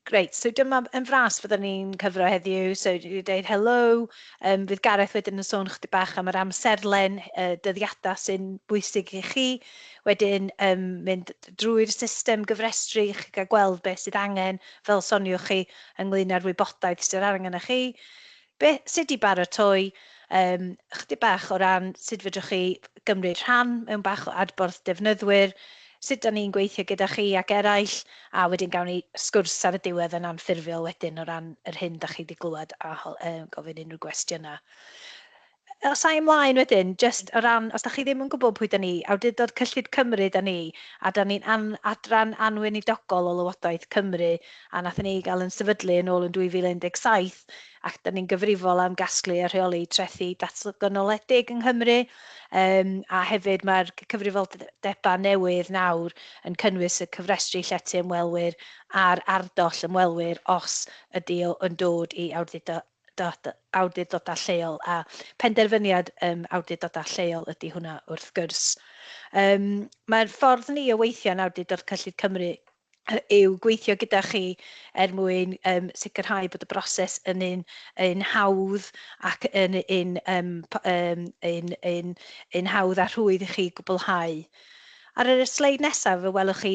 Great, so dyma yn fras fydden ni'n cyfro heddiw, so dwi wedi dweud helo, um, fydd Gareth wedyn yn sôn chdi bach am yr amserlen uh, dyddiadau sy'n bwysig i chi, wedyn um, mynd drwy'r system gyfrestru i chi gael gweld beth sydd angen, fel soniwch chi, ynglyn â'r wybodaeth sydd angen chi. Be, sut i baratoi, yym, ychydig bach o ran sut fedrwch chi gymryd rhan mewn bach o adborth defnyddwyr, sut da ni'n gweithio gyda chi ac eraill, a wedyn gawn ni sgwrs ar y diwedd yn anffurfiol wedyn o ran yr hyn da chi di glywed a ho- yy gofyn unrhyw gwestiynau. Os ai ymlaen wedyn, jyst o ran, os da chi ddim yn gwybod pwy da ni, awdurdod cyllid Cymru da ni, a da ni'n an, adran anweinidogol o Lywodraeth Cymru, a nathon ni gael yn sefydlu yn ôl yn 2017, ac da ni'n gyfrifol am gasglu a rheoli trethi datganoledig yng Nghymru, um, a hefyd mae'r cyfrifoldebau newydd nawr yn cynnwys y cofrestru llety ymwelwyr a'r ardoll ymwelwyr os ydy o yn dod i awdurdod dot awdurdodau lleol a phenderfyniad um, awdurdodau lleol ydy hwnna wrth gwrs. Um, Mae'r ffordd ni o weithio yn awdurdod cyllid Cymru yw gweithio gyda chi er mwyn um, sicrhau bod y broses yn un, un hawdd ac yn un, um, um, un, un, un hawdd a rhwydd i chi gwblhau. Ar y sleid nesaf fe welwch chi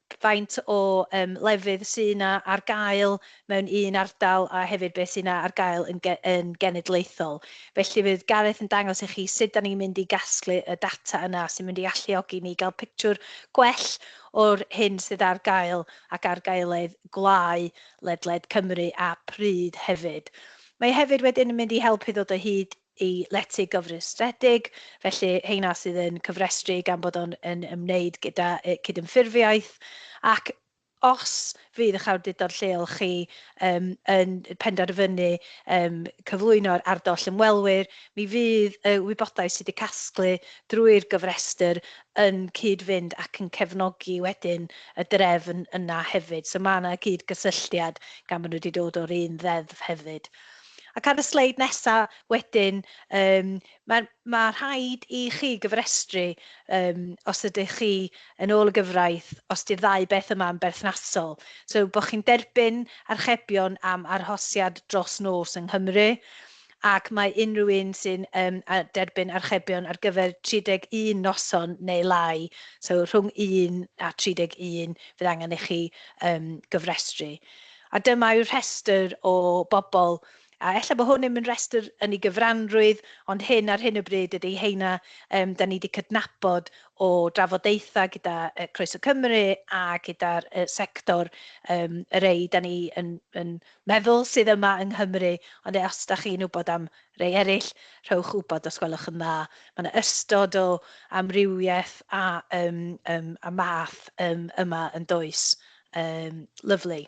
faint o yym lefydd sy' 'na ar gael mewn un ardal a hefyd beth sy' 'na ar gael yn ge- yn genedlaethol. Felly fydd Gareth yn dangos i chi sut 'dan ni'n mynd i gasglu y data yna sy'n mynd i alluogi ni gael pictiwr gwell o'r hyn sydd ar gael ac ar gaeledd gwlau ledled Cymru a phryd hefyd. Mae e hefyd wedyn yn mynd i helpu ddod o hyd y lety gofrestredig, felly heina sydd yn cofrestru gan bod o'n yn ymwneud gyda y cydymffurfiaeth, ac os fydd eich awdurdod lleol chi yym yn penderfynu yym cyflwyno'r ardoll ymwelwyr, mi fydd y wybodaeth sydd wedi casglu drwy'r gofrestr yn cyd-fynd ac yn cefnogi wedyn y drefn yna hefyd. So mae yna gyd-gysylltiad gan bod nhw wedi dod o'r un ddeddf hefyd. Ac ar y sleid nesaf wedyn, um, mae, mae rhaid i chi gyfrestru um, os ydych chi yn ôl y gyfraith, os di'r ddau beth yma yn berthnasol. So, bod chi'n derbyn archebion am arhosiad dros nos yng Nghymru, ac mae unrhyw un sy'n um, derbyn archebion ar gyfer 31 noson neu lai, so rhwng 1 a 31, fydd angen i chi um, gyfrestru. A dyma yw rhestr o bobl, a ella bod hwn ddim yn rhestr yn ei gyfranrwydd, ond hyn ar hyn o bryd ydy heina yym dan ni wedi cydnabod o drafodaethau gyda yy Croeso Cymru a gyda'r y sector yym y rei dan ni yn yn meddwl sydd yma yng Nghymru, ond e- os dach chi'n wybod am rei eraill, rhowch wybod os gwelwch yn dda. Mae yna ystod o amrywiaeth a yym yym a math yym yma yn does? Um, lyflu.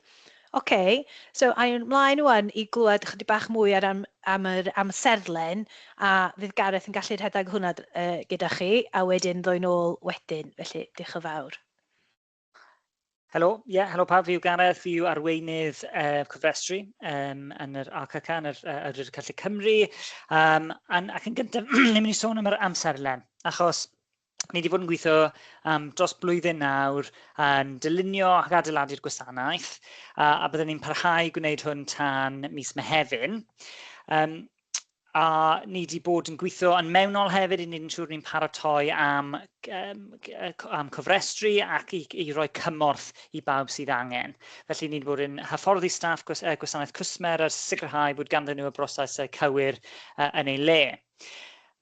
Oce, okay. so a'n mlaen wan i glywed chydig bach mwy ar am, am yr amserlen a fydd Gareth yn gallu rhedeg hwnna uh, gyda chi a wedyn ddwy'n ôl wedyn, felly diolch yn fawr. Helo, ie, yeah, helo pawb, fi yw Gareth, fi yw arweinydd uh, cofrestru um, yn yr ACC, yn yr uh, Awdurdod Celtic Cymru, um, ac yn gyntaf, ni'n mynd i sôn am yr amserlen, achos ni wedi bod yn gweithio um, dros blwyddyn nawr yn dylunio ac adeiladu'r gwasanaeth a, a byddwn ni'n parhau gwneud hwn tan mis Mehefin. Um, a ni wedi bod yn gweithio yn mewnol hefyd i wneud yn siŵr ni'n paratoi am, um, am cofrestru ac i, i roi cymorth i bawb sydd angen. Felly ni wedi bod yn hyfforddi staff gwasanaeth cwsmer a sicrhau bod ganddyn nhw y broses cywir uh, yn ei le.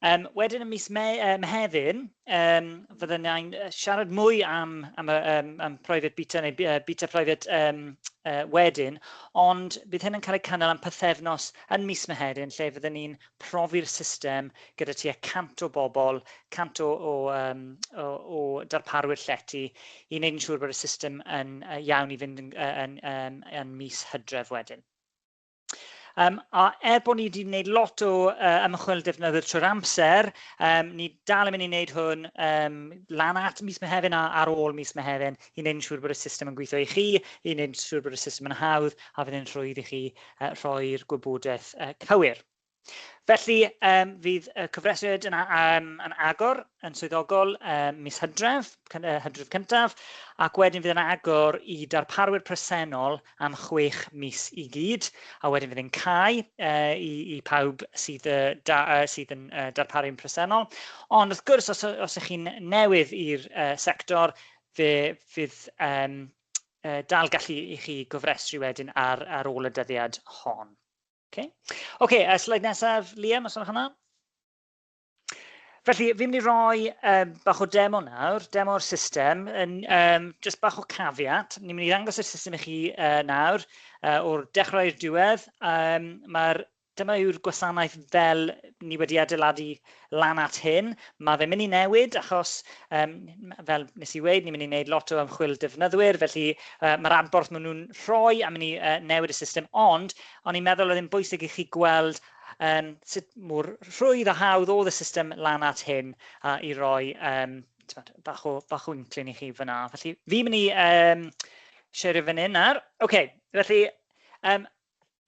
Yym, wedyn yn mis Mei, uh, Mehefin, um, fydden ni'n siarad mwy am, am, um, am private beta neu uh, beta private um, uh, wedyn, ond bydd hyn yn cael ei cynnal am pythefnos yn mis Mehefin lle fydden ni'n profi'r system gyda tua 100 o bobl, 100 o, o, um, o, o darparwyr llety i wneud yn siŵr bod y system yn uh, iawn i fynd yn, yn, yn, yn, yn mis hydref wedyn. Um, a er bod ni wedi gwneud lot o uh, ymchwil defnyddio trwy'r amser, um, ni dal yn mynd i wneud hwn um, lan at mis Mehefin a ar ôl mis Mehefin i wneud yn siŵr bod y system yn gweithio i chi, i wneud yn siŵr bod y system yn hawdd a fydd yn rhwydd i chi uh, rhoi'r gwybodaeth uh, cywir. Felly, um, fydd y cyfrestriad yn, um, yn agor yn swyddogol um, mis hydref, uh, hydref cyntaf, ac wedyn fydd yn agor i darparwyr presennol am chwech mis i gyd, a wedyn fydd yn cael uh, i, i pawb sydd, uh, da, uh, sydd yn uh, darparu'n presennol. Ond wrth gwrs, os, os ych chi'n newydd i'r uh, sector, fe fydd um, uh, dal gallu i chi gofrestru wedyn ar, ar ôl y dyddiad hon. Okay. okay, a sleid nesaf, Liam, os yna hwnna. Felly, fi'n mynd i roi um, bach o demo nawr, demo o'r system, yn, um, just bach o cafiat. Ni'n mynd i ddangos y system i chi uh, nawr, uh, o'r dechrau i'r diwedd. Um, Mae'r dyma yw'r gwasanaeth fel ni wedi adeiladu lan at hyn, mae fe'n mynd i newid achos, um, fel nes i weid, ni'n mynd i wneud lot o ymchwil defnyddwyr, felly uh, mae'r adborth maen nhw'n rhoi am mynd i uh, newid y system, ond o'n i'n meddwl oedd yn bwysig i chi gweld um, sut mor rhwydd a hawdd oedd y system lan at hyn uh, i roi um, bach o, bach o inclyn i chi fyna. Felly, fi'n mynd i um, siarad fan hyn nawr. OK, felly, um,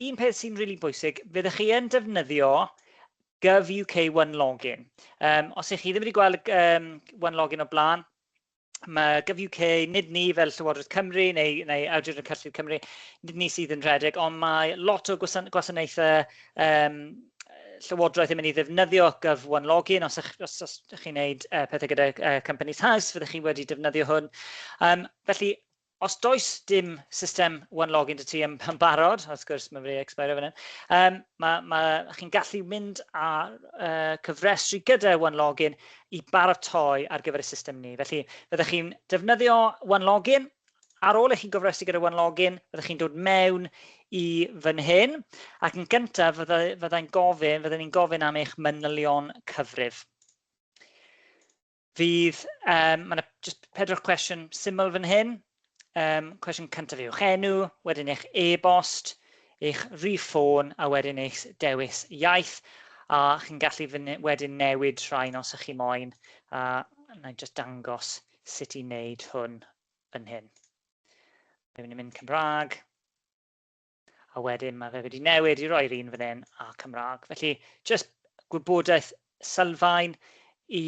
un peth sy'n rili really bwysig, fyddwch chi yn defnyddio GovUK One Login. Um, os ych chi ddim wedi gweld um, One Login o blaen, mae GovUK, nid ni fel Llywodraeth Cymru neu, neu Awdur y Cyllid Cymru, nid ni sydd yn rhedeg, ond mae lot o gwasan gwasanaethau um, Llywodraeth yn mynd i ddefnyddio Gov One Login. Os ych, os, os chi'n gwneud uh, pethau gyda uh, Companies House, fyddwch chi wedi defnyddio hwn. Um, felly, Os does dim system One Login 'da ti yn barod, wrth gwrs mae'n wedi ecspeiro fan hyn, chi'n gallu mynd a cyfrestru gyda One Login i baratoi ar gyfer y system ni. Felly, fyddech chi'n defnyddio One Login. Ar ôl i chi gofrestru gyda One Login, fyddech chi'n dod mewn i fan hyn, ac yn gyntaf fydda i'n gofyn, fydden ni'n gofyn am eich manylion cyfrif. Fydd, um, mae yna just pedwar cwestiwn syml fan hyn. Um, cwestiwn cyntaf yw'ch enw, wedyn eich e-bost, eich rhif ffôn a wedyn eich dewis iaith a chi'n gallu wedyn newid rhain os ych chi moyn a na i just dangos sut i wneud hwn yn hyn. Mae'n mynd Cymraeg. a wedyn mae fe wedi newid i roi'r un fan hyn a Cymraeg. Felly, jyst gwybodaeth sylfaen i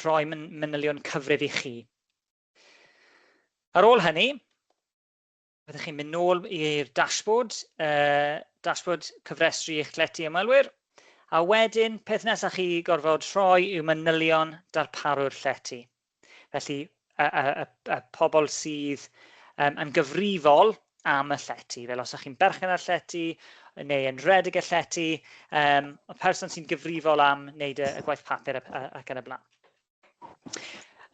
roi manylion cyfrif i chi. Ar ôl hynny, byddwch chi'n mynd nôl i'r dashboard, uh, dashboard cyfrestru eich llety ymwelwyr, a wedyn peth nesaf chi gorfod rhoi yw manylion darparu'r llety. Felly, y, y, y, y pobl sydd um, yn gyfrifol am y llety. Fel os ydych chi'n berchen ar llety neu yn redig y llety, um, y person sy'n gyfrifol am wneud y, y gwaith papur ac yn y blaen.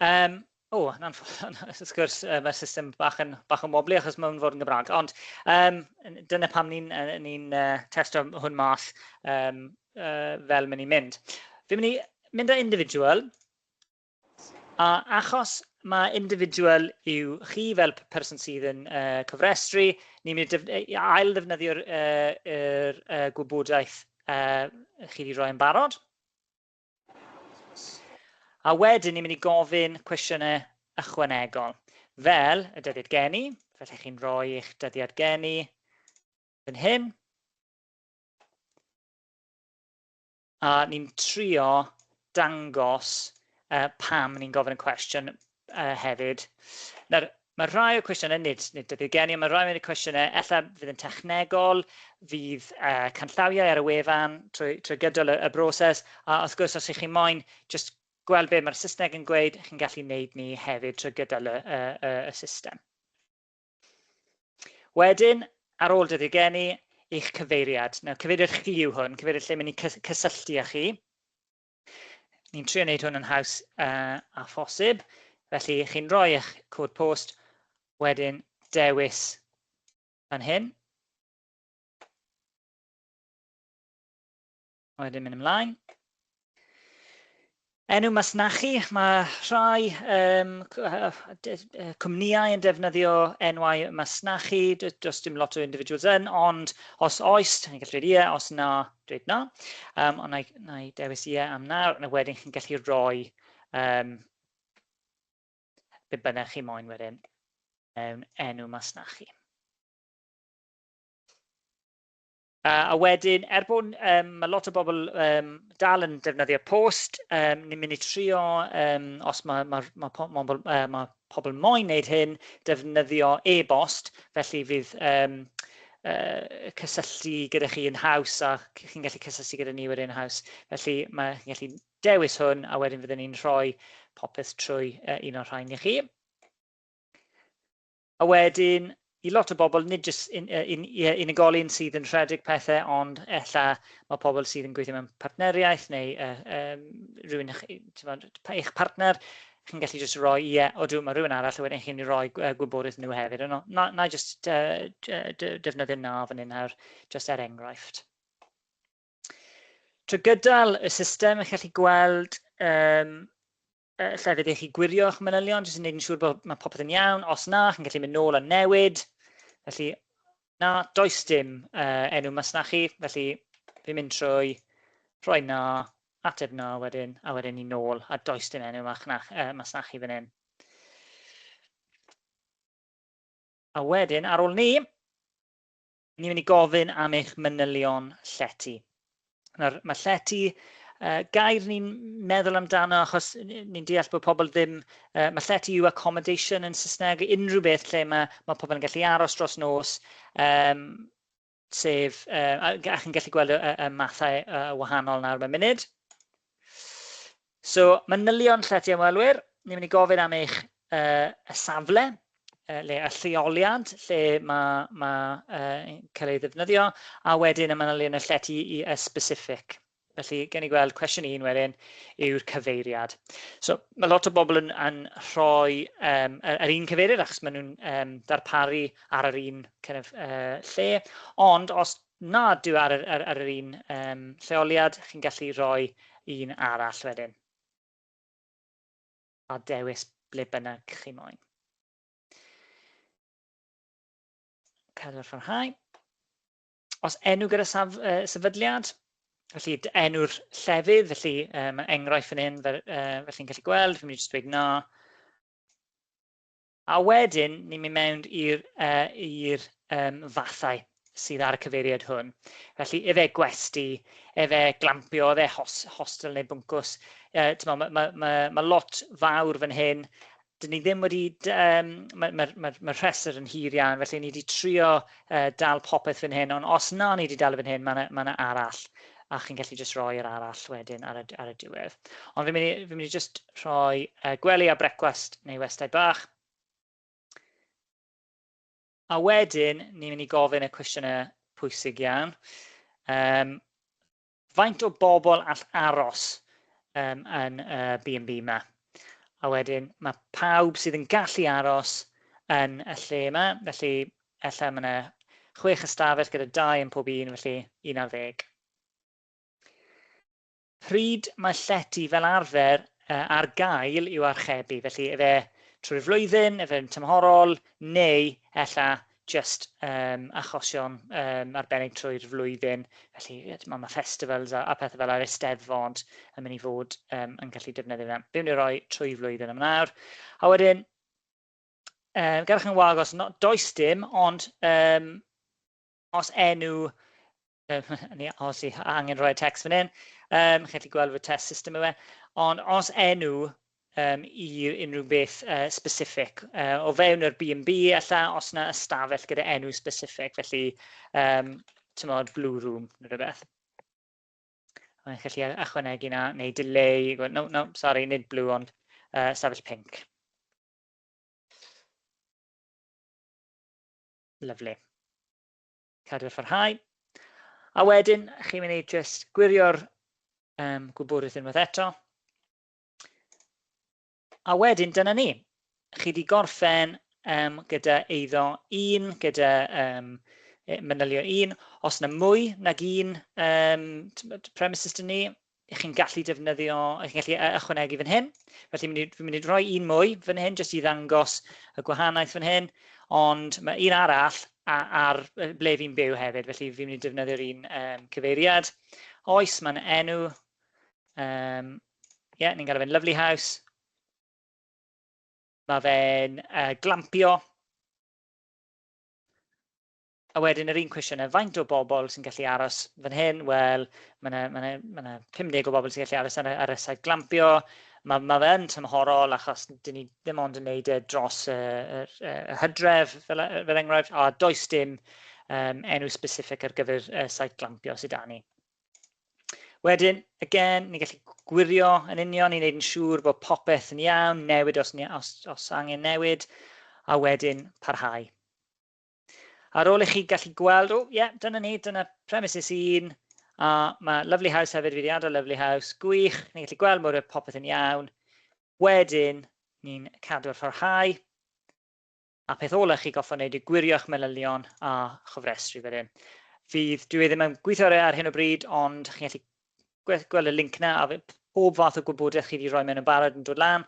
Um, o, yn anffodus, wrth gwrs, um, y system bach yn, bach yn woblu achos mae'n fod yn Gymraeg. Ond um, dyna pam ni'n ni uh, testio hwn math um, uh, fel mynd i'n mynd. Fi'n mynd i mynd â individual, A achos mae individual yw chi fel person sydd yn uh, cofrestru, ni'n mynd i ail ddefnyddio'r uh, er, uh, gwybodaeth uh, chi wedi rhoi yn barod. A wedyn ni'n mynd i gofyn cwestiynau ychwanegol, fel y dyddiad geni, felly chi'n rhoi eich dyddiad geni yn hyn. A ni'n trio dangos pam ni'n gofyn y cwestiwn hefyd. Nawr, mae rhai o'r cwestiynau, nid debyg gen i, ond mae rhai o'r cwestiynau, ella fydd yn technegol, fydd canllawiau ar y wefan trwy gydol y broses, a wrth gwrs, os ych chi moyn jyst gweld be mae'r Saesneg yn gweud, chi'n gallu neud ni hefyd trwy gydol y system. Wedyn, ar ôl dyddiau geni, eich cyfeiriad. Nawr, cyfeiriad chi yw hwn, cyfeiriad lle mynd i cysylltu â chi. Ni'n trio wneud hwn yn haws uh, a phosib, felly chi'n rhoi eich cod post, wedyn dewis fan hyn. Wedyn mynd ymlaen. Enw masnachu, mae rhai um, cwmnïau yn defnyddio enwau masnachu, does dim lot o individuals yn, ond os oes, chi'n gallu dweud ie, os na, dweud na. Um, ond na i, na i dewis ie am na, a wedyn chi'n gallu rhoi um, be bynnag chi moyn wedyn mewn enw masnachu. A, a wedyn, er bod um, mae lot o bobl um, dal yn defnyddio post, um, ni'n mynd i trio, um, os mae, mae, mae, po, mae, uh, mae pobl moyn wneud hyn, defnyddio e-bost, felly fydd um, uh, cysylltu gyda chi yn haws a chi'n gallu cysylltu gyda ni wedyn yn haws. Felly mae chi'n gallu dewis hwn a wedyn fydden ni'n rhoi popeth trwy uh, un o'r rhain i chi. A wedyn, i lot o bobl, nid jyst un- yy un- ie unigolyn sydd yn rhedeg pethe ond ella ma' pobl sydd yn gweithio mewn partneriaeth neu yy yym rywun ych- yy t'mod pa- eich partner, chi'n gallu jyst roi ie, odw ma' rywun arall a wedyn chi'n myn' i roi gw- yy gwybodaeth nhw hefyd yno. Na- na'i jyst yy j- yy dy- defnyddio na fan 'yn nawr jyst er enghraifft. Trwy gydol y system chi'n gallu gweld yym uh, lle ydych chi gwirio eich manylion, jyst yn gwneud yn siŵr bod mae popeth yn iawn. Os na, chi'n gallu mynd nôl a newid. Felly, na, does dim uh, enw masnachu, felly fi'n mynd trwy rhoi na, ateb na wedyn, a wedyn ni nôl, a does dim enw masnach, uh, masnachu fan hyn. A wedyn, ar ôl ni, Ni'n mynd i gofyn am eich manylion llety. Nawr, mae llety uh, gair ni'n meddwl amdano achos ni'n deall bod pobl ddim, uh, mae llety yw accommodation yn Saesneg, unrhyw beth lle mae, mae pobl yn gallu aros dros nos, um, sef, uh, a, a chi'n gallu gweld y, y, y mathau uh, wahanol nawr mewn munud. So, manylion llety ymwelwyr, ni'n mynd i gofyn am eich uh, y safle, uh, le y lleoliad lle mae, mae uh, cael ei ddefnyddio, a wedyn y manylion y llety i y specific. Felly, gen ni gweld cwestiwn un wedyn yw'r cyfeiriad. So, mae lot o bobl yn, yn rhoi um, yr, yr un cyfeiriad achos maen nhw'n um, darparu ar yr un kind of, uh, lle. Ond os Na, dwi ar yr, ar, ar yr un um, lleoliad, chi'n gallu rhoi un arall wedyn. A dewis ble bynnag chi moyn. Cadw'r fforhau. Os enw gyda saf, uh, sefydliad, felly enw'r llefydd, felly um, enghraifft fan hyn, fel, uh, felly'n gallu gweld, fi'n mynd i jyst dweud na. A wedyn, ni'n mynd mewn i'r i'r yym fathau sydd ar y cyfeiriad hwn. Felly, efe gwesty, efe glampio, efe hos, hostel neu bwncws. Uh, ma, ma, ma, ma, ma lot fawr fan hyn. Dyn ni ddim wedi... Um, Mae'r ma, ma, ma rhestr yn hir iawn, felly ni wedi trio uh, dal popeth fan hyn, ond os na ni wedi dal fan hyn, mae yna ma arall, a chi'n gallu just rhoi yr arall wedyn ar y, ar y diwedd. Ond fi'n mynd, fi mynd i just rhoi uh, gwely a brecwast neu westau bach. A wedyn, ni'n mynd i gofyn y cwestiynau pwysig iawn. Um, Faint o bobl all aros um, yn y uh, B&B yma? A wedyn mae pawb sydd yn gallu aros yn y lle yma, felly efallai mae yna chwech ystafell gyda dau yn pob un, felly un ar ddeg. Pryd mae llety fel arfer uh, ar gael i'w archebu, felly efe trwy'r flwyddyn, efe'n tymhorol, neu ella jyst um, achosion um, arbennig trwy'r flwyddyn. Felly, mae ma festivals a, a pethau fel ar eisteddfod yn mynd i fod um, yn gallu defnyddio fe. Byw ni roi trwy flwyddyn am nawr. A wedyn, um, gadwch yn wag os no, does dim, ond um, os enw Um, ia, os i angen rhoi text fan hyn, um, chi'n gallu gweld fy test system yma. Ond os enw um, i unrhyw beth uh, specific, uh, o fewn yr B&B alla, os yna ystafell gyda enw specific, felly, um, tymod, blue room, neu rhywbeth. Mae'n gallu achwanegu na, neu delay, no, no, sorry, nid blue, ond uh, ystafell pink. Lovely. cadw a pharhau. A wedyn, chi'n mynd i just gwirio'r um, gwybodaeth unwaith eto. A wedyn, dyna ni. Chi wedi gorffen um, gyda eiddo un, gyda um, e, manylion un. Os yna mwy nag un um, premises dyn ni, 'y chi'n gallu defnyddio, 'y chi'n gallu e, ychwanegu fan hyn. Felly mynd i, fi'n mynd i roi un mwy fan hyn, jyst i ddangos y gwahaniaeth fan hyn, ond mae un arall ar ble fi'n byw hefyd, felly fi'n mynd i defnyddio'r un um, cyfeiriad. Oes, mae'n enw, um, ie, yeah, ni'n galw fe'n Lovely House. Mae fe'n uh, glampio. A wedyn yr un cwestiwn yna, faint o bobl sy'n gallu aros fan hyn? Wel, mae yna, mae yna, mae yna 50 o bobl sy'n gallu aros ar, ar y saith glampio. Mae, mae fe yn tymhorol achos dyn ni ddim ond yn neud e dros y, y, y hydref fel, e, fel enghraifft, a does dim um, enw specific ar gyfer y saith glampio sydd da ni. Wedyn, again, ni'n gallu gwirio yn union i wneud yn siŵr bod popeth yn iawn, newid os, os, os angen newid, a wedyn parhau. Ar ôl i chi gallu gweld, o, ie, yeah, dyna ni, dyna premises un, a mae Lovely House hefyd, fi wedi adael Lovely House, gwych, ni'n gallu gweld mor oedd popeth yn iawn. Wedyn, ni'n cadw ar pharhau, a peth ola chi goffa wneud yw gwirio'ch manylion a chofrestru fel hyn. Fydd, dwi e ddim yn gweithio ar hyn o bryd, ond chi'n gallu gweld y link na, a pob fath o gwybodaeth chi wedi rhoi mewn yn barod yn dod lan.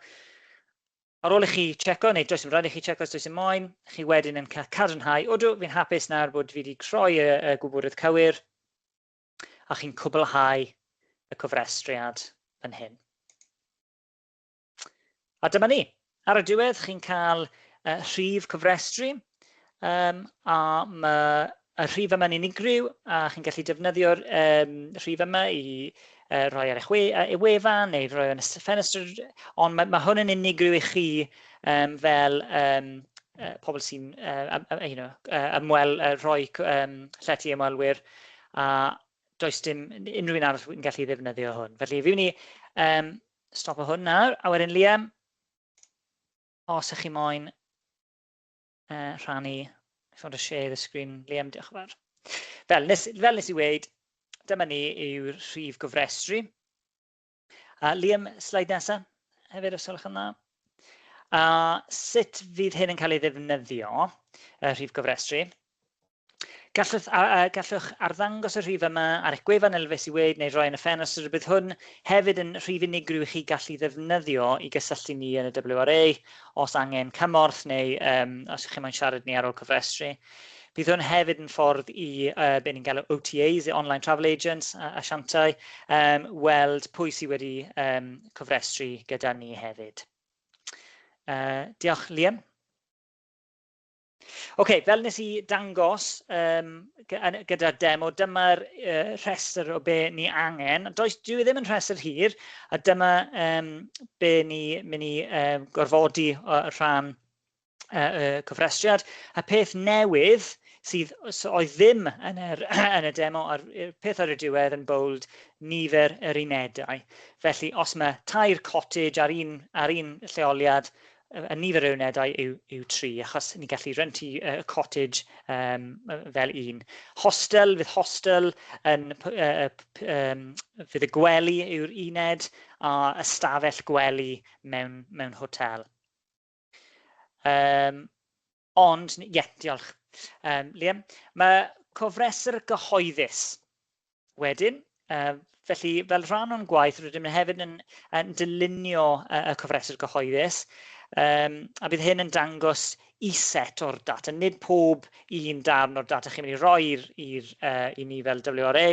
Ar ôl i chi tseco, neu does dim rhaid i chi tseco os does dim moyn, chi wedyn yn cael cadarnhau, odw, fi'n hapus nawr bod fi wedi troi y, y gwybodaeth cywir, a chi'n cwblhau y cofrestriad fan hyn. A dyma ni. Ar y diwedd, chi'n cael uh, rhif cofrestru, Um, a mae y rhif yma'n unigryw, a chi'n gallu defnyddio'r um, rhif yma i uh, rhoi ar eich we, uh, e wefan neu rhoi yn y ffenestr, ond mae, mae hwn yn unigryw i chi um, fel um, uh, pobl sy'n uh, uh, you know, uh, ymwel, uh, rhoi um, llety ymwelwyr, a does dim unrhyw un arall yn gallu ddefnyddio hwn. Felly, fi wni um, stop o hwn nawr, a wedyn Liam, os ych chi moyn uh, rhannu, if you want to share the screen, Liam, diolch yn fawr. Fel nes, fel nes i weid, dyma ni yw'r rhif gofrestru. Uh, Liam, slide nesa, hefyd os yw'ch yn dda. Uh, sut fydd hyn yn cael ei ddefnyddio, y uh, rhif gofrestru? Gallwch, a, a, gallwch arddangos y rhif yma ar eich gwefan elfes i wneud neu roi yn y ffenast yr bydd hwn hefyd yn rhif unigryw i chi gallu ddefnyddio i gysylltu ni yn y WRA os angen cymorth neu um, os ydych chi'n moyn siarad ni ar ôl cyfrestru. Bydd hwn hefyd yn ffordd i uh, be ni'n galw OTAs, Online Travel Agents, a asiantau, um, weld pwy sydd wedi um, cofrestru gyda ni hefyd. Uh, diolch, Liam. Ok, fel nes i dangos um, gyda'r demo, dyma'r uh, rhestr o be ni angen. Does, dwi e ddim yn rhestr hir, a dyma um, be ni mynd i um, gorfodi uh, rhan uh, uh, cofrestriad. A peth newydd sydd so oedd ddim yn, er, yn y demo a'r peth ar y diwedd yn bold nifer yr unedau. Felly os mae tair cottage ar un, ar un lleoliad, y nifer o unedau yw, yw tri, achos ni'n gallu rentu uh, cottage um, fel un. Hostel, fydd hostel yn, uh, um, fydd y gwely yw'r uned a ystafell gwely mewn, mewn hotel. Um, Ond, ie, yeah, diolch, um, Liam. Mae cofresr gyhoeddus wedyn, uh, felly fel rhan o'n gwaith rydym ni hefyd yn, yn dylunio uh, y cofresr gyhoeddus um, a bydd hyn yn dangos i set o'r data, nid pob un darn o'r data chi'n mynd i roi i'r, uh, i ni fel WRA,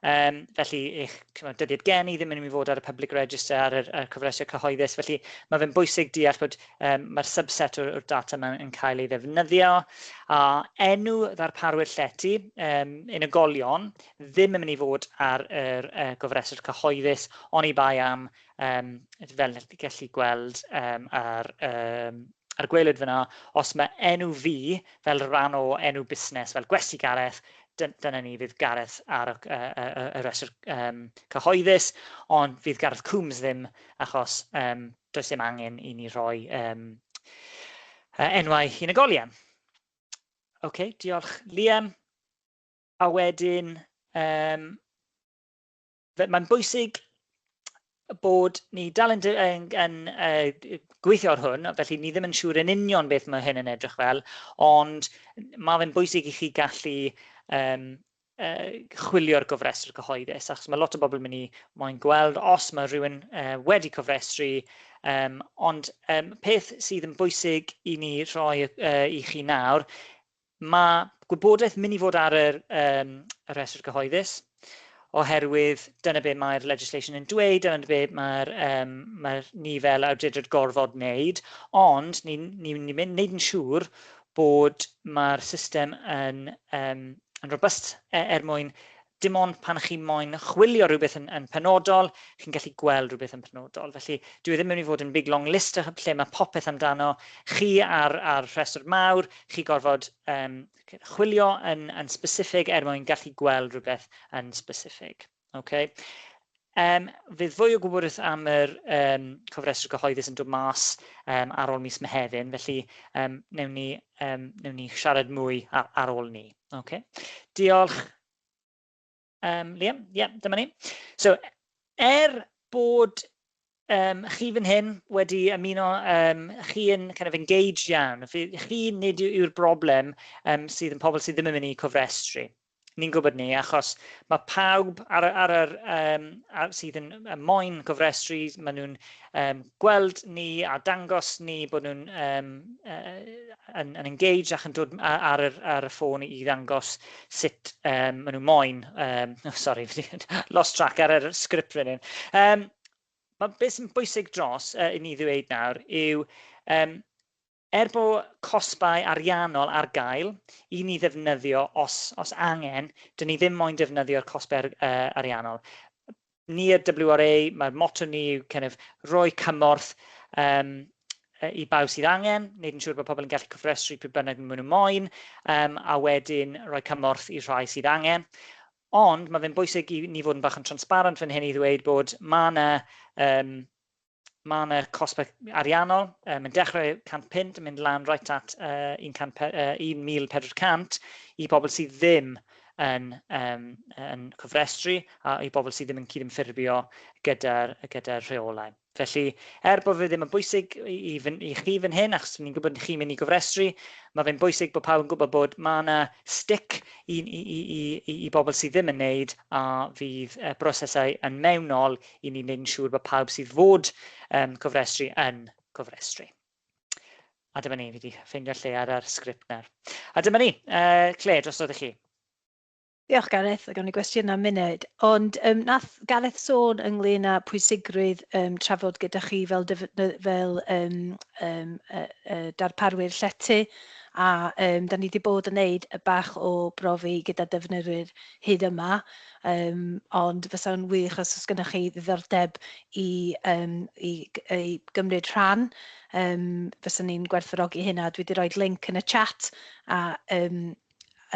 Um, felly, eich cymryd, dyddiad gen i ddim yn mynd i fod ar y public register ar y, y cyfreithiau cyhoeddus. Felly, mae fe'n bwysig deall bod um, mae'r subset o'r, or data yma yn cael ei ddefnyddio, a enw ddarparwyr llety um, unigolion ddim yn mynd i fod ar yr uh, gofreswr cyhoeddus, ond i bai am, um, fel ydych chi'n gallu gweld um, ar um, a'r gwelyd fyna, os mae enw fi fel rhan o enw busnes, fel gwesti Gareth, dyna ni fydd Gareth ar y, y, y, y rhestr um, cyhoeddus, ond fydd Gareth Coombs ddim achos um, Does dim angen i ni rhoi um, uh, enwau unigolion. Oce, okay, diolch Liam. A wedyn, um, mae'n bwysig bod ni dal yn, yn, yn uh, gweithio ar hwn, felly ni ddim yn siŵr yn union beth mae hyn yn edrych fel, ond mae fe'n bwysig i chi gallu um, uh, chwilio'r gofrestr cyhoeddus, achos mae lot o bobl yn mynd i moyn gweld os mae rhywun uh, wedi cofrestru, um, ond um, peth sydd yn bwysig i ni rhoi uh, i chi nawr, mae gwybodaeth mynd i fod ar yr, um, y rhestr cyhoeddus, oherwydd dyna beth mae'r legislation yn dweud, dyna beth mae'r um, mae ni fel awdurdod gorfod wneud, ond ni'n ni, ni, ni mynd wneud yn siŵr bod mae'r system yn um, yn robust er mwyn dim ond pan chi moyn chwilio rhywbeth yn, yn penodol, chi'n gallu gweld rhywbeth yn penodol. Felly, dwi e ddim yn mynd i fod yn big long list lle mae popeth amdano chi ar, ar rhestr mawr, chi gorfod um, chwilio yn, yn specific er mwyn gallu gweld rhywbeth yn specific. Okay. Um, fydd fwy o gwybodus am yr um, cofrestr gyhoeddus yn dod mas um, ar ôl mis Mehefin, felly um, newn, ni, um, newn ni siarad mwy ar, ar ôl ni. Okay. Diolch. Um, Liam, ie, yeah, dyma ni. So, er bod um, chi fan hyn wedi ymuno, um, chi yn kind of engaged iawn. Chi nid yw'r broblem um, sydd yn pobl sydd ddim yn mynd i cofrestru. Ni'n gwybod ni, achos mae pawb ar, ar, ar, um, ar sydd yn y moyn cofrestru, maen nhw'n um, gweld ni a dangos ni bod nhw'n um, uh, yn, yn engaged ac yn dod ar, ar, ar y ffôn i ddangos sut um, maen nhw'n moyn, um, oh, sorry, lost track ar yr sgript rydyn. Um, mae beth sy'n bwysig dros uh, i ni ddweud nawr yw um, er bod cosbau ariannol ar gael i ni ddefnyddio os, os angen, dyn ni ddim moyn defnyddio'r cosbau ar, uh, ariannol. Ni y WRA, mae'r moto ni yw kind of, roi cymorth um, i bawb sydd angen, wneud yn siŵr bod pobl yn gallu cyfrestru pryd bynnag maen nhw moyn, um, a wedyn rhoi cymorth i'r rhai sydd angen. Ond mae fe'n bwysig i ni fod yn bach yn transparent fan hyn i ddweud bod mae yna um, mae yna cosbau ariannol, um, mae'n dechrau 100 punt yn mynd lan right at uh, 1400 i bobl sydd ddim yn, um, yn cofrestru a i bobl sydd ddim yn cydymffurfio gyda'r gyda rheolau. Felly, er bod fe ddim yn bwysig i, i, fy, i chi fan hyn, achos ni'n gwybod chi'n mynd i gofrestru, mae fe'n bwysig bod pawb yn gwybod bod mae yna stick i, i, i, i, i bobl sydd ddim yn neud a fydd y brosesau yn mewnol i ni wneud yn siŵr bod pawb sydd fod um, cofrestru yn cofrestru. A dyma ni, fi wedi ffeindio lle ar yr sgript nawr. A dyma ni, uh, Claire, drosodd i chi. Diolch Gareth, gawn ni gwestiynau am munud. Ond um, nath Gareth sôn ynglyn â pwysigrwydd um, trafod gyda chi fel, fel um, um, uh, uh, darparwyr llety a um, da ni wedi bod yn neud y bach o brofi gyda defnyddwyr hyd yma um, ond fysa'n wych os oes gennych chi ddiddordeb i, um, i, i gymryd rhan um, fysa ni'n gwerthfawrogi hynna dwi wedi rhoi link yn y chat a um,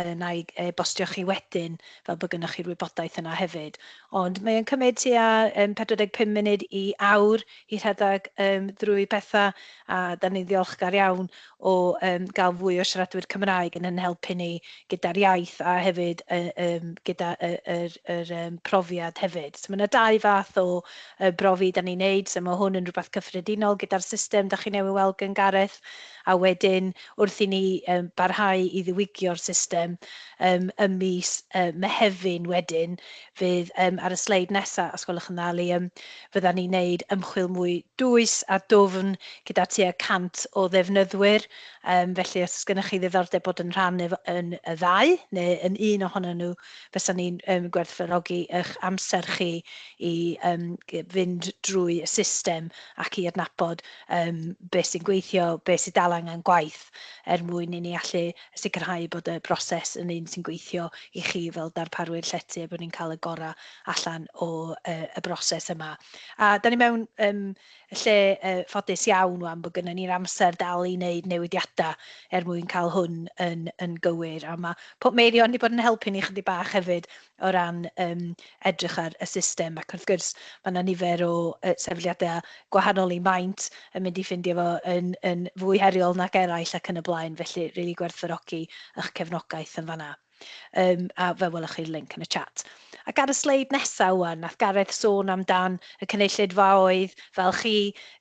yna i e-bostio chi wedyn fel bod gennych chi'r wybodaeth yna hefyd. Ond mae o'n cymryd tua um, 45 munud i awr i rhedeg um, drwy pethau a da ni'n ddiolchgar iawn o um, gael fwy o siaradwyr Cymraeg yn yn helpu ni gyda'r iaith a hefyd uh, um, gyda yr uh, er, er, um, profiad hefyd. So mae yna dau fath o uh, brofi da ni'n neud, so mae hwn yn rhywbeth cyffredinol gyda'r system da chi newydd weld gan Gareth a wedyn wrth i ni barhau i ddiwygio'r system ym mis Mehefin wedyn fydd, ar y sleid nesaf os gwelwch yn dda Liam, fyddan ni'n neud ymchwil mwy dwys a dwfn gyda tua 100 o ddefnyddwyr, felly os oes gennych chi ddiddordeb bod yn rhan yn y ddau neu yn un ohonyn nhw fysan ni'n gwerthfawrogi eich amser chi i fynd drwy y system ac i adnabod um, beth sy'n gweithio, beth sydd dal angen gwaith er mwyn i ni allu sicrhau bod y broses yn un sy'n gweithio i chi fel darparwyr llety a bod ni'n cael y gorau allan o uh, y broses yma. A da ni mewn um, lle uh, ffodus iawn wan bod gennym ni'r amser dal i wneud newidiadau er mwyn cael hwn yn, yn gywir. A mae Pop Meirion wedi bod yn helpu ni chydig bach hefyd o ran yym edrych ar y system ac wrth gwrs ma' 'na nifer o yy sefydliade gwahanol i maint yn mynd i ffindio fo yn yn fwy heriol nag eraill ac yn y blaen felly rili gwerthfawrogi ych cefnogaeth yn fan'na. Yym a fe welwch chi'r linc yn y chat. Ac ar y sleid nesa ŵan nath Gareth sôn am dan y cynulleidfaoedd fel chi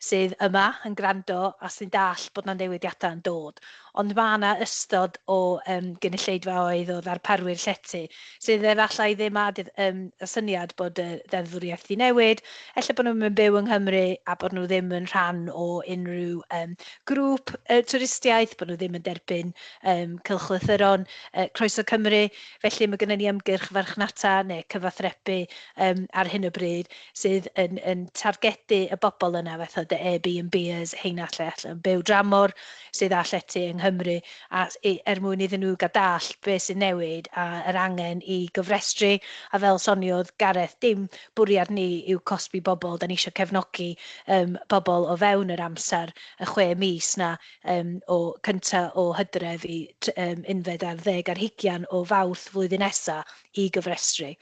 sydd yma yn gwrando a sy'n dallt bod 'na newidiada yn dod. Ond mae yna ystod o yym gynulleidfaoedd o ddarparwyr llety sydd efallai ddim â d- yym y syniad bod y ddeddfwriaeth 'di newid, ella bod nhw ddim yn byw yng Nghymru a bod nhw ddim yn rhan o unrhyw yym grŵp yy twristiaeth, bod nhw ddim yn derbyn yym cylchlythyron yy Croeso Cymru. Felly mae gynnon ni ymgyrch farchnata neu cyfathrebu yym ar hyn o bryd sydd yn yn targedu y bobl yna fatha dy Airbnbers, heina lle ella yn byw dramor. sydd â llety yng Nghymru a i er mwyn iddyn nhw gael dallt beth sy'n newid a yr angen i gofrestru a fel soniodd Gareth dim bwriad ni yw cosbi bobl dan ni isio cefnogi yym pobl o fewn yr amser y chwe mis na yym o cynta o Hydref i tr- yym unfed ar ddeg ar hugian o Fawrth flwyddyn nesa i gofrestru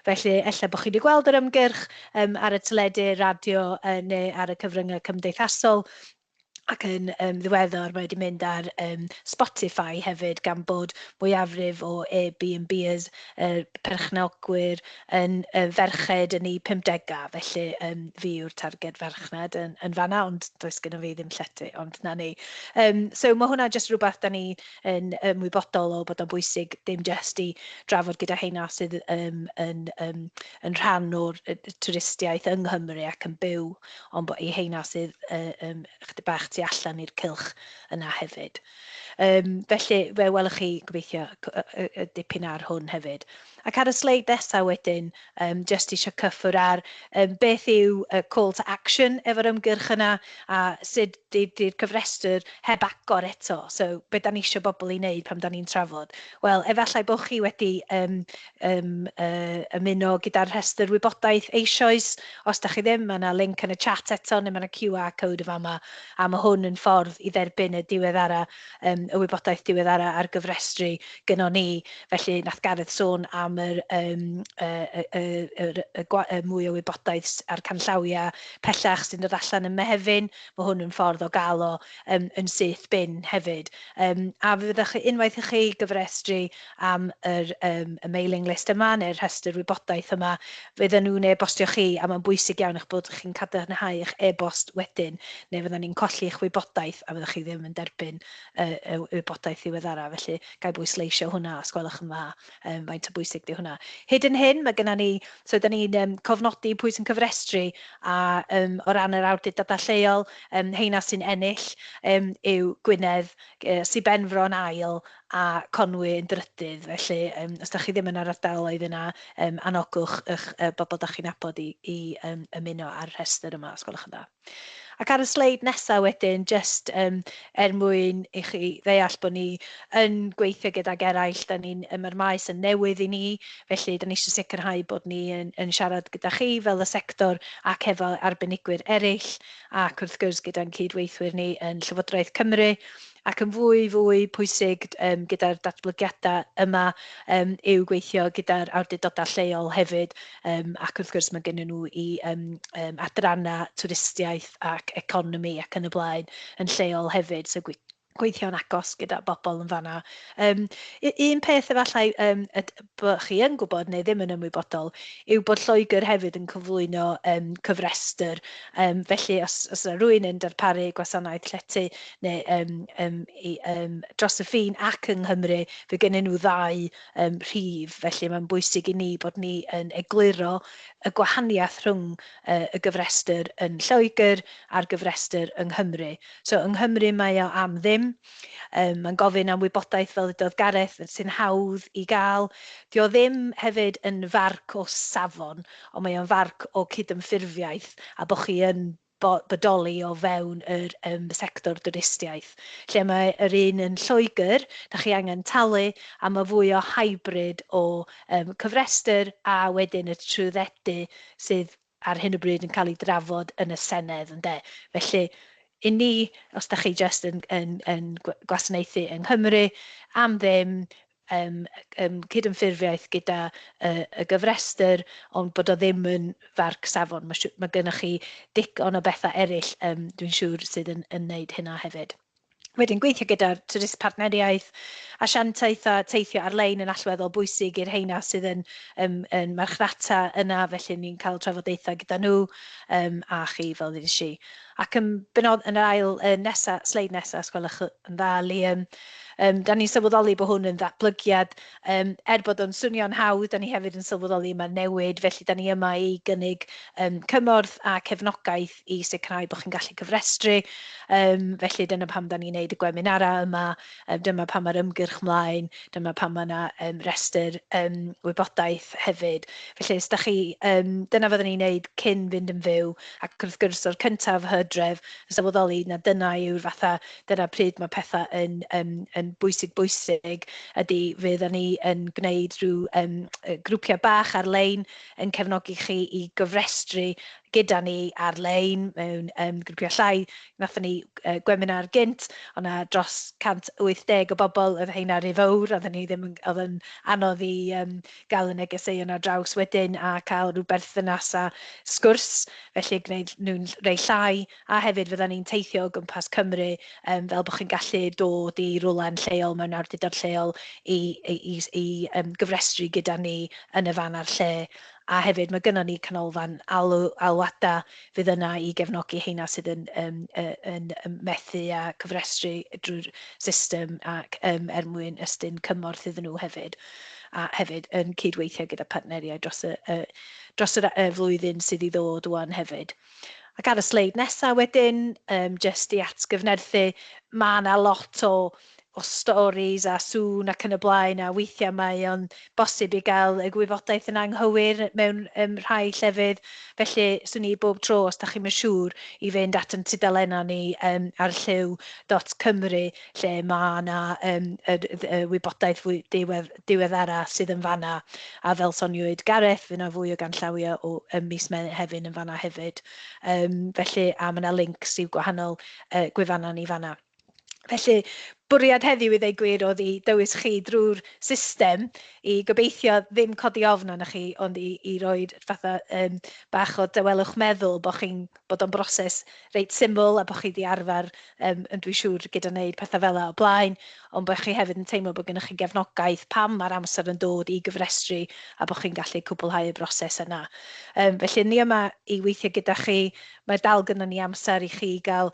felly ella bod chi wedi gweld yr ymgyrch yym ar y teledu radio yy neu ar y cyfryngau cymdeithasol ac yn um, ddiweddar mae wedi mynd ar um, Spotify hefyd gan bod mwyafrif o Airbnbers uh, perchnogwyr yn uh, ferched yn ei 50au, felly um, fi yw'r targed farchnad yn, yn fanna, ond does gen i fi ddim llety, ond na ni. Um, so mae hwnna jyst rhywbeth da ni yn ymwybodol o bod o'n bwysig dim jyst i drafod gyda heina sydd um, yn, um, yn rhan o'r twristiaeth yng Nghymru ac yn byw ond bod y heina sydd um, chyd bach tu allan i'r cylch yna hefyd. Um, felly, fe welwch chi gobeithio y dipyn ar hwn hefyd. Ac ar y sleid nesaf wedyn, um, jyst eisiau cyffwr ar um, beth yw uh, call to action efo'r ymgyrch yna a sut ydy'r cyfrestr heb agor eto. So, beth da ni eisiau bobl i wneud pam da ni'n trafod? Wel, efallai bod chi wedi um, Yym, yy, ymuno gyda'r rhestr wybodaeth eisoes. Os da chi ddim, mae yna link yn y chat eto, neu mae yna QR code yn fama, a mae hwn yn ffordd i dderbyn y diweddara, um, y wybodaeth diweddara ar gyfrestru gyno ni. Felly, nath Gareth sôn am yr, um, y, y, y, y, y, y mwy o wybodaeth a'r canllawiau pellach sy'n dod allan yn Mehefin. Mae hwn yn ffordd o gael o um, yn syth bin hefyd. Um, a fe fyddwch chi, unwaith i chi gyfrestru, am yr yym y mailing list yma neu'r rhestr wybodaeth yma, fydden nhw'n e-bostio chi a mae'n bwysig iawn eich bod chi'n cadarnhau eich e-bost wedyn neu fyddan ni'n colli eich wybodaeth a fyddwch chi ddim yn derbyn y, y wybodaeth ddiweddara. Felly, gael bwysleisio hwnna os gwelwch yn dda, um, faint o bwysig di hwnna. Hyd yn hyn, mae gennym ni, so da ni'n um, cofnodi pwy sy'n cyfrestru a um, o ran yr awdurdodau lleol, um, heina sy'n ennill um, yw Gwynedd, uh, Sir Benfro yn ail a Conwy yn drydydd, felly yym os 'da chi ddim yn yr ardaloedd yna yym anogwch 'ych yy bobl 'da chi'n nabod i i yym ymuno â'r rhestr yma os gwelwch yn dda. Ac ar y sleid nesa wedyn jyst yym er mwyn i chi ddeall bod ni yn gweithio gydag eraill 'da ni'n yym ma'r maes yn newydd i ni felly 'da ni isio sicrhau bod ni yn yn siarad gyda chi fel y sector ac hefo arbenigwyr ereill ac wrth gwrs gyda'n cyd-weithwyr ni yn Llywodraeth Cymru ac yn fwy fwy pwysig yym gyda'r datblygiadau yma yym yw gweithio gyda'r awdurdodau lleol hefyd yym ac wrth gwrs mae gennym nhw i yym yym adrannau twristiaeth ac economi ac yn y blaen yn lleol hefyd so gweithio'n agos gyda bobl yn fanna. Yym, un peth efallai um, be chi yn gwybod neu ddim yn ymwybodol yw bod Lloegr hefyd yn cyflwyno yym cyfrestr yym felly os os yna rywun yn darparu gwasanaeth llety neu yym yym i yym dros y ffin ac yng Nghymru fe gennyn nhw ddau yym rhif felly mae'n bwysig i ni bod ni yn egluro y gwahaniaeth rhwng yy y gyfrestr yn Lloegr a'r gyfrestr yng Nghymru so yng Nghymru mae o am ddim Yym, mae'n gofyn am wybodaeth, fel ddudodd Gareth, sy'n hawdd i gael. Dio ddim hefyd yn farc o safon, ond mae o'n farc o cydymffurfiaeth a bod chi yn bo- bodoli o fewn yr yym sector dwristiaeth. Lle mae yr un yn Lloegr, da chi angen talu, a mae fwy o hybrid o yym cyfrestr a wedyn y trwyddedu sydd ar hyn o bryd yn cael ei drafod yn y Senedd, ynde. Felly, i ni, os da chi jyst yn, yn, yn gwasanaethu yng Nghymru am ddim, yym, yym, cydymffurfiaeth gyda y, y gyfrestr, ond bod o ddim yn farc safon. Mae, mae gennych chi digon o bethau eraill, yym, dwi'n siŵr, sydd yn, yn wneud hynna hefyd. Wedyn, gweithio gyda'r trydydd partneriaeth, asiantaeth a teithio ar-lein yn allweddol bwysig i'r rheina sydd yn um, yn marchnata yna, felly ni'n cael trafodaethau gyda nhw um, a chi fel ddys i. Ac yn benod yn yr ail uh, nesa, sleid nesa, os gwelwch yn dda, Liam, um, da ni'n sylweddoli bod hwn yn ddatblygiad, um, er bod o'n swnio'n hawdd, da ni hefyd yn sylweddoli yma'r newid, felly da ni yma i gynnig um, cymorth a cefnogaeth i sicrhau bod chi'n gallu cyfrestru. Um, felly dyna pam da ni'n neud y gweminarau yma, um, dyma pam mae'r ymgyrch mlaen, dyma pam mae yna um, restr um, wybodaeth hefyd. Felly, ysda chi, um, dyna fydden ni'n neud cyn fynd yn fyw, ac wrth gwrs o'r cyntaf hydref, yn sylweddoli na dyna yw'r fatha, dyna pryd mae pethau yn, um, yn bwysig bwysig, ydy fydd ni yn gwneud rhyw um, grwpiau bach ar-lein yn cefnogi chi i gyfrestru gyda ni ar-lein mewn yym grwpiau llai. Wnaethon ni yy gweminar gynt, o' 'na dros 180 o bobl, oedd rheina rhy fowr, oedden ni ddim yn... oedd yn anodd i yym gael y negeseuon ar draws wedyn a cael rhyw berthynas a sgwrs, felly gwneud nhw'n rhai llai, a hefyd fyddan ni'n teithio o gwmpas Cymru yym fel bod chi'n gallu dod i rywle'n lleol mewn awdurdod lleol i i i i yym gyfrestru gyda ni yn y fan a'r lle. a hefyd mae gynnon ni canolfan alw, alwadau fydd yna i gefnogi heina sydd yn yym yn yn methu â cofrestru drwy'r system ac yym er mwyn ystyn cymorth iddyn nhw hefyd, a hefyd yn cyd-weithio gyda partneriaid dros y y dros yr y flwyddyn sydd i ddod ŵan hefyd. Ac ar y sleid nesa wedyn yym jyst i atgyfnerthu ma' 'na lot o o storis a sŵn ac yn y blaen, a weithiau mae o'n bosib i gael y gwybodaeth yn anghywir mewn yym rhai llefydd, felly 'swn i bob tro, os dach chi'm yn siŵr, i fynd at ein tudalennau ni yym ar Llyw dot Cymru lle ma' 'na yym yr y wybodaeth fwy diwedd- diweddara sydd yn fan'na, a fel soniwyd Gareth, fydd 'na fwy o ganllawia o ym mis Mehefin yn fan'na hefyd, yym felly a ma' 'na links i'w gwahanol yy gwefannau ni fan'na. Felly, bwriad heddiw i ddweud gwir oedd i dywys chi drwy'r system i gobeithio ddim codi ofn arnoch chi ond i, i roi'r fatha um, bach o dawelwch meddwl bod chi'n bod o'n broses reit syml a bod chi wedi arfer um, yn dwi'n siŵr gyda wneud pethau fel yna o blaen ond bod chi hefyd yn teimlo bod gennych chi gefnogaeth pam mae'r amser yn dod i gyfrestru a bod chi'n gallu cwblhau y broses yna. Um, felly ni yma i weithio gyda chi, mae dal gyda ni amser i chi gael